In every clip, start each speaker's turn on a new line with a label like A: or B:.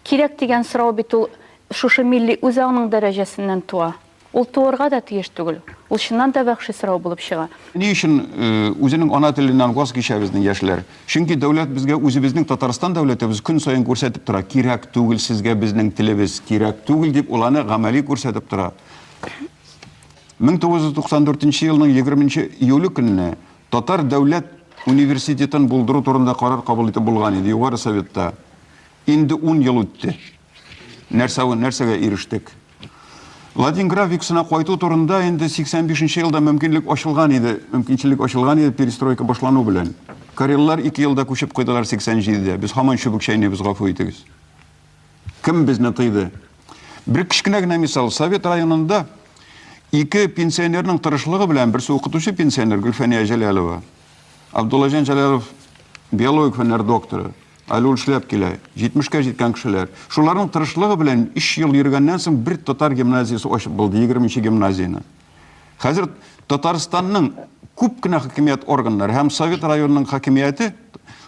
A: Кирәк дигән сорау бит ул шушы милли үзаңның дәрәҗәсеннән туа. Ул туырга да тиеш түгел. Ул чыннан да вәхши сорау булып чыга. Ни өчен
B: үзенең ана теленнән ваз кичә безнең яшьләр? Чөнки дәүләт безгә үзебезнең Татарстан дәүләтебез көн саен күрсәтеп тора, кирәк түгел сезгә безнең телебез, кирәк түгел, дип ул аны гамәли күрсәтеп тора. 1994 елның егерменче июле көнне Татар дәүләт университетын булдыру турында карар кабул итеп булган иде Югары Советта. Инде ун ел үтте. Нәрсә, нәрсәгә ирештек? Ладин графикасына кайту турында инде 85 нче елда мөмкинлек ачылган иде, мөмкинчелек ачылган иде перестройка башлану белән. Кареллар ике елда күчеп куйдылар 87 дә. Без һаман чүбек чәйнибез, гафу итегез. Кем безне тыйды? Бер кечкенә генә мисал. Совет районында ике пенсионерның тырышлыгы белән берсе укытучы пенсионер Гөлфәния Җәләлова. Абдуллаҗан Җәләлов биологик фәннәр докторы. Әле ул эшләп килә. 70-кә җиткән кешеләр. Шуларның тырышлыгы белән 3 ел йөргәннән соң бер татар гимназиясе ачып булды, 20 нче гимназияне. Хәзер Татарстанның күп кенә хакимият органнары һәм Совет районының хакимияте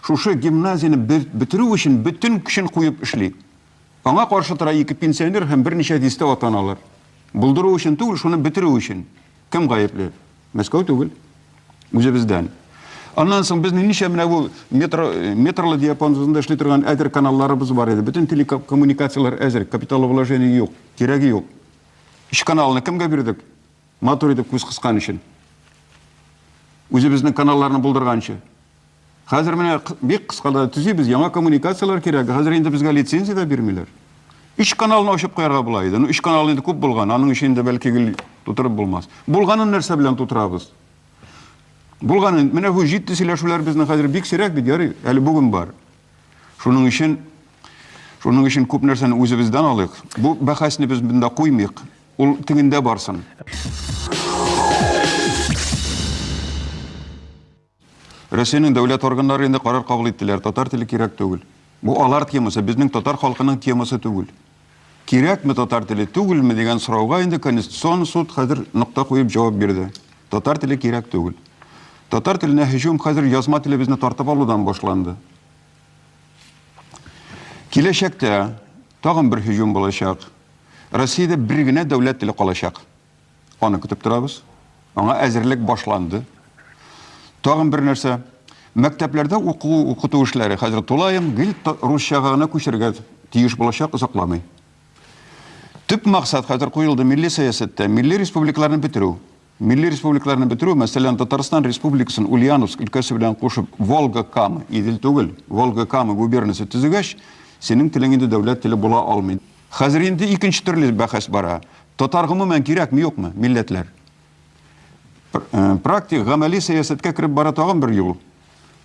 B: шушы гимназияне бетерү өчен бөтен көчен куеп эшли. Аңа каршы тора ике пенсионер һәм берничә дистә атаналар. Булдыру өчен түгел, шуны бетерү өчен. Кем гаепле? Мәскәү түгел. Үзебездән. Аннан соң безнең ничә менә бу метро, метрлы диапазон үзендә эшли торган әзер каналларыбыз бар иде. Бөтен телекоммуникацияләр әзер, капитал вложения юк, кирәге юк. Өч каналны кемгә бирдек? Матур итеп күз кыскан өчен. Үзебезнең каналларны булдырганчы. Хәзер менә бик кыскада төзибез, яңа коммуникацияләр кирәк. Хәзер инде безгә лицензия дә бирмиләр. Өч каналны ачып куярга була иде. Ну, өч канал инде күп булган, аның өчен инде бәлки гел тутырып булмас. Булганын нәрсә белән тутырабыз? Булганын, менә бу җитди сөйләшүләр безнең хәзер бик сирәк бит, ярый, әле бүген бар. Шуның өчен шуның өчен күп нәрсәне үзебездән алыйк. Бу бәхәсне без монда куймыйк. Ул тегендә барсын. Россиянең дәүләт органнары инде карар кабул иттеләр, татар теле кирәк түгел. Бу алар темасы, безнең татар халкының темасы түгел. Кирәкме татар теле, түгелме дигән сорауга инде Конституцион суд хәзер нокта куеп җавап бирде. Татар теле кирәк түгел. Татар теленә һөҗүм хәзер язма телебезне тартып алудан башланды. Киләчәктә тагын бер һөҗүм булачак. Россиядә бер генә дәүләт теле калачак. Аны көтеп торабыз. Аңа әзерлек башланды. Тагын бер нәрсә, мәктәпләрдә уку укыту эшләре хәзер тулаем гел русчага гына күчергә тиеш булачак озакламый. Төп максат хәзер куелды милли сәясәттә, милли республикаларны бетерү. Милли республикаларны бетерү, мәсәлән, Татарстан республикасын Ульяновск өлкәсе белән кушып, Волга-Кама, Идел түгел, Волга-Кама губернасы төзегәч, синең телең инде дәүләт теле була алмый. Хәзер инде икенче төрле бәхәс бара. Татар гомумән кирәкме, юкмы, милләтләр? Практик, гамәли сәясәткә кереп бара тагын бер юл.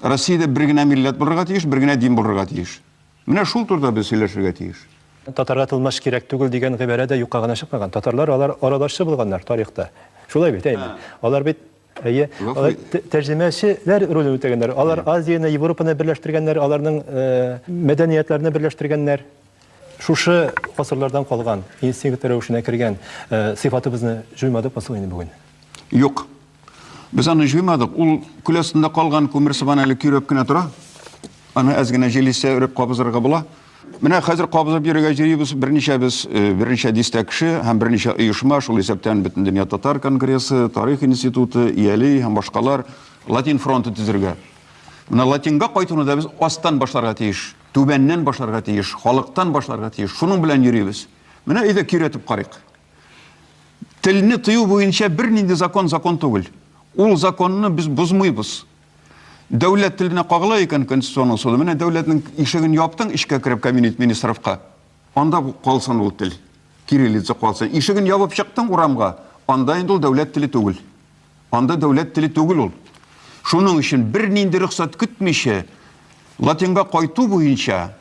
B: Россиядә бер генә милләт булырга тиеш, бер генә дин булырга тиеш. Менә шул турыда без сөйләшергә тиеш. Татарга тылмач
C: кирәк түгел дигән гыйбарә дә юкка гына чыкмаган. Татарлар алар аралашчы булганнар тарихта. Шулай бит, әйеме? Алар бит Әйе. Алар тәрҗемәчеләр ролен үтәгәннәр. Алар Азияне, Европаны берләштергәннәр, аларның мәдәниятләрне берләштергәннәр. Шушы гасырлардан калган, инстинкт рәвешенә кергән сыйфатыбызны җуймадык мы соң инде бүген? Юк.
B: Без аны җуймадык. Ул күл астында калган күмер сыман әле көйрәп кенә тора. Аны әз генә җил иссә, өреп кабызырга була. Менә хәзер кабызып йөрергә җыйбыз берничәбез, э, берничә дистә кеше һәм берничә оешма, шул исәптән Бөтендөнья татар конгрессы, Тарих институты, Ияли һәм башкалар Латин фронты төзергә. Менә Латинга кайтуны да без астан башларга тиеш, түбәннән башларга тиеш, халыктан башларга тиеш. Шуның белән йөрибез. Менә өйдә киретеп карыйк. Телне тыю буенча бернинди закон закон түгел. Ул законны без бозмыйбыз. Дәүләт теленә кагыла икән конституционный суды. Менә дәүләтнең ишеген яптың эчкә кереп кабинет министровка. Анда калсын ул тел. Кириллица калсын. Ишеген ябып чыктың урамга, анда инде ул дәүләт теле түгел. Анда дәүләт теле түгел ул. Шуның өчен бернинди рөхсәт көтмичә латинга кайту буенча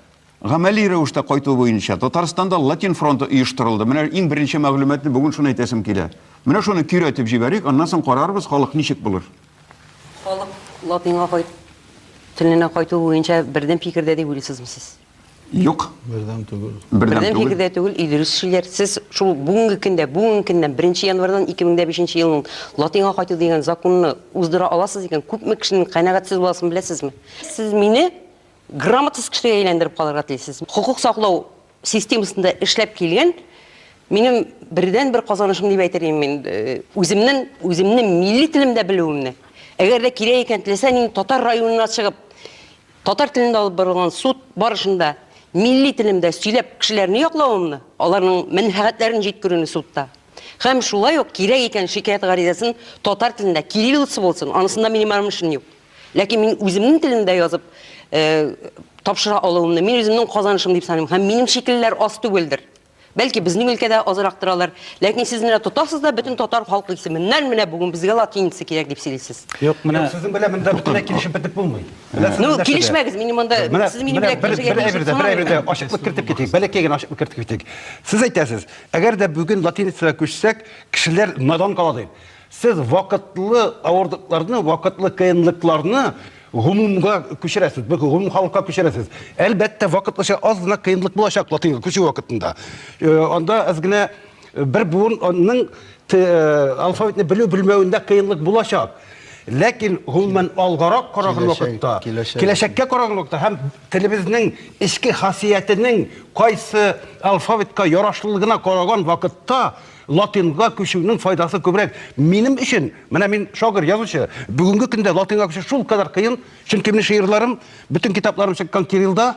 B: Гамәли рәвештә кайту буенча Татарстанда Латин фронты оештырылды. Менә иң беренче мәгълүматны бүген шуны әйтәсем килә. Менә шуны көйрәтеп җибәрик, аннан соң карарбыз, халык ничек булыр. Халык
D: латинга кайт теленә кайту буенча бердәм фикердә дип уйлыйсызмы сез? Юк.
B: Бердәм түгел.
E: Бердәм түгел. фикердә
D: түгел, и дөрес шиләр. Сез шул бүгенге көндә, бүгенге көннән 1 январьдан 2005 елның латинга кайту дигән законны уздыра аласыз икән, күпме кешенең канәгатьсез буласын беләсезме? Сез мине Грамотасыз кешегә әйләндереп калырга телисез. Хокук саклау системасында эшләп килгән минем бердәнбер казанышым дип әйтер идем мин. Үземнең, үземнең милли телемдә белүемне. Әгәр дә кирәк икән, теләсә нинди татар районына чыгып, татар телендә алып барылган суд барышында милли телемдә сөйләп кешеләрне яклавымны, аларның мәнфәгатьләрен җиткерүне судта. Һәм шулай ук кирәк икән шикаять гаризасын татар телендә, кириллица булсын, анысында минем рамешем юк. Ләкин мин үземнең телемдә язып тапшыра алуымны, мин үземнең казанышым дип саныйм. Һәм минем шикеллеләр аз түгелдер. Бәлки безнең өлкәдә азрак торалар, ләкин сез менә тотасыз да бөтен татар халкы исеменнән менә бүген безгә латиница кирәк дип сөйлисез. Юк, менә сезнең белән
E: монда бөтенләй
C: килешеп бетеп булмый. Ну, килешмәгез,
D: мин монда сез минем белән килешергә тиеш. Бер әйбер, бер әйбер
C: ачыклык кертеп китик. Бәләкәй генә ачыклык кертеп китик. Сез әйтәсез, әгәр дә бүген латиницага күчсәк, кешеләр надан кала дип. Сез вакытлы авырлыкларны, вакытлы кыенлыкларны гомумга күчерәсез, бу гомум халыкка күчерәсез. Әлбәттә, вакытлыча аз гына кыенлык булачак латинга күчү вакытында. Э, анда аз гына э, бер буынның э, алфавитны белү белмәвендә кыенлык булачак. Ләкин гомумән алгарак караган вакытта, киләчәккә караган вакытта һәм телебезнең эчке хасиятенең кайсы алфавитка ярашлылыгына караган вакытта Латинга күчүнең файдасы күбрәк. Минем өчен, менә мин шагыйрь, язучы, бүгенге көндә латинга күчү шул кадәр кыен, чөнки минем шигырьләрем, бөтен китапларым чыккан кириллда,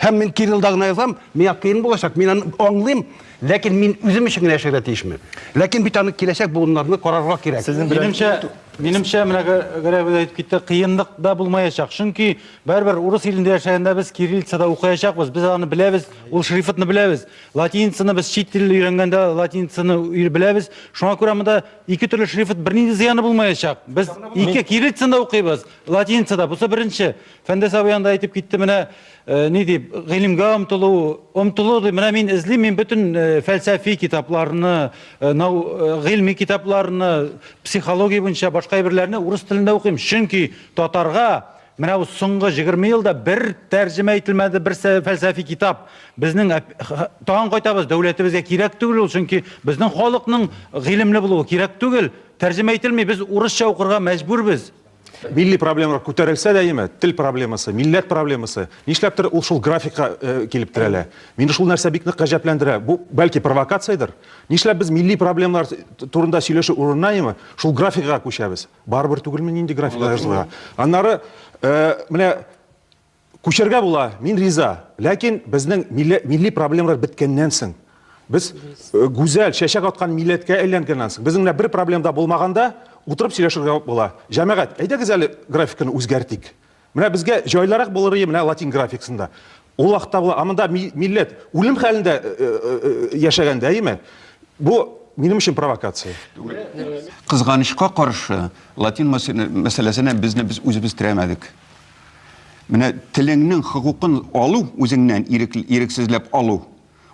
C: һәм мин кириллда гына язам, миңа кыен булачак, мин аны аңлыйм, ләкин мин үзем өчен генә яшәргә тиешме? Ләкин бит аны киләчәк буыннарны карарга кирәк. Минемчә, минемчә,
E: менә Гәрәев әйтеп китте, кыенлык да булмаячак, чөнки барыбер урыс илендә яшәгәндә без кириллицада укыячакбыз, без аны беләбез, ул шрифтны беләбез. Латиницаны без чит тел өйрәнгәндә латиницаны өйр беләбез. Шуңа күрә монда ике төрле шрифт бернинди зыяны булмаячак. Без ике кириллицаны укыйбыз, латиницада. Бусы беренче. Фәндәс абый анда әйтеп китте, менә э, ни дип, гыйлемгә омтылу, омтылу дип, менә мин эзлим, мин бөтен э, фәлсәфи китапларны, э, нау, э, гыйльми китапларны, психология буенча башка әйберләрне урыс телендә укыйм. Чөнки татарга Менә бу соңгы 20 елда бер тәрҗемә ителмәде бер фәлсәфи китап. Безнең тагын кайтабыз, дәүләтебезгә кирәк түгел ул, чөнки безнең халыкның гыйлемле булуы кирәк түгел. Тәрҗемә ителми, без урысча укырга мәҗбүрбез. Милли
F: проблемалар күтәрелсә дә яме, тел проблемасы, милләт проблемасы, нишләптер ул шул графикка килеп терәлә. Мине шул нәрсә бик нык гаҗәпләндерә. Бу бәлки провокациядер. Нишләп без милли проблемалар турында сөйләшү урынына яме, шул графикага күчәбез? Барыбер түгелме нинди графикта язылган? Аннары менә күчәргә була, мин риза. Ләкин безнең милли проблемалар беткәннән соң, без гүзәл, чәчәк аткан милләткә әйләнгәннән соң, безнең менә бер проблем да булмаганда, утырып сөйләшергә була. Җәмәгать, әйдәгез әле графиканы үзгәртик. Менә безгә җайлырак булыр ие менә латин графиксында. Ул ахта була, ә монда милләт үлем хәлендә э, э, э, яшәгәндә, әйеме? Бу минем өчен провокация.
B: Кызганычка каршы, латин мәсьәләсенә безне без үзебез терәмәдек. Менә телеңнең хокукын алу, үзеңнән ирексезләп алу,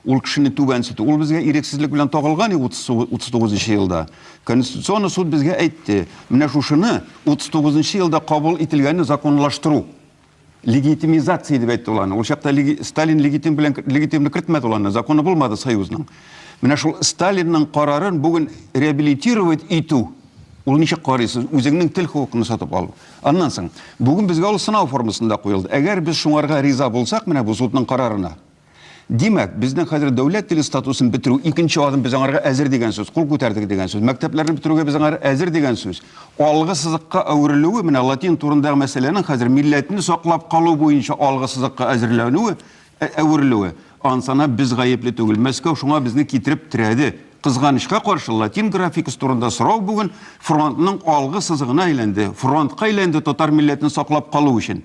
B: Ул кешене түбәнсетү. Ул безгә ирексезлек белән тагылган и 39 нчы елда. Конституционный суд безгә әйтте, менә шушыны 39 нчы елда кабул ителгәнне законлаштыру. Легитимизация дип әйтте ул аны. Ул чакта леги... Сталин легитим белән легитимны кертмәде ул аны, законы булмады союзның. Менә шул Сталинның карарын бүген реабилитировать итү Ул ничек карыйсыз? Үзеңнең тел хокукын сатып алу. Аннан соң, бүген безгә ул сынау формасында куелды. Әгәр без шуңарга риза булсак, менә бу судның карарына, Димәк, безнең хәзер дәүләт теле статусын бетерү икенче адым без аңарга әзер дигән сүз, кул күтәрдек дигән сүз. Мәктәпләрне бетерүгә без аңар әзер дигән сүз. Алгы сызыкка әверелүе, менә латин турындагы мәсьәләнең хәзер милләтне саклап калу буенча алгы сызыкка әзерләнүе, ә, әверелүе. Ансана без гаепле түгел. Мәскәү шуңа безне китереп терәде. Кызганычка каршы, латин графикасы турында сорау бүген фронтның алгы сызыгына әйләнде. Фронтка әйләнде татар милләтен саклап калу өчен.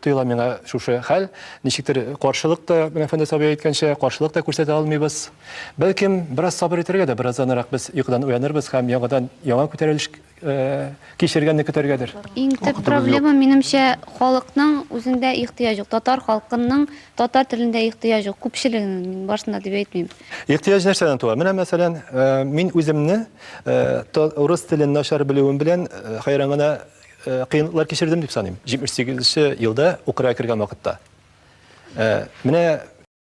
C: Тоела миңа шушы хәл. Ничектер каршылык та, менә Фәндәс абый әйткәнчә, каршылык та күрсәтә алмыйбыз. Бәлкем, бераз сабыр итәргә дә, беразданрак без йокыдан уянырбыз һәм яңадан яңа күтәрелеш кичергәнне көтәргәдер. Иң төп проблема,
G: минемчә, халыкның үзендә ихтыяҗ юк. Татар халкының татар телендә ихтыяҗ юк. Күпчелегенең, мин барсында дип әйтмим. Ихтыяҗ нәрсәдән
C: туа? Менә, мәсәлән, мин үземне урыс телен начар белүем белән хәйран гына Э, кыенлыклар кичердем дип саныйм җитмеш сигезенче елда украга кергән вакытта э, менә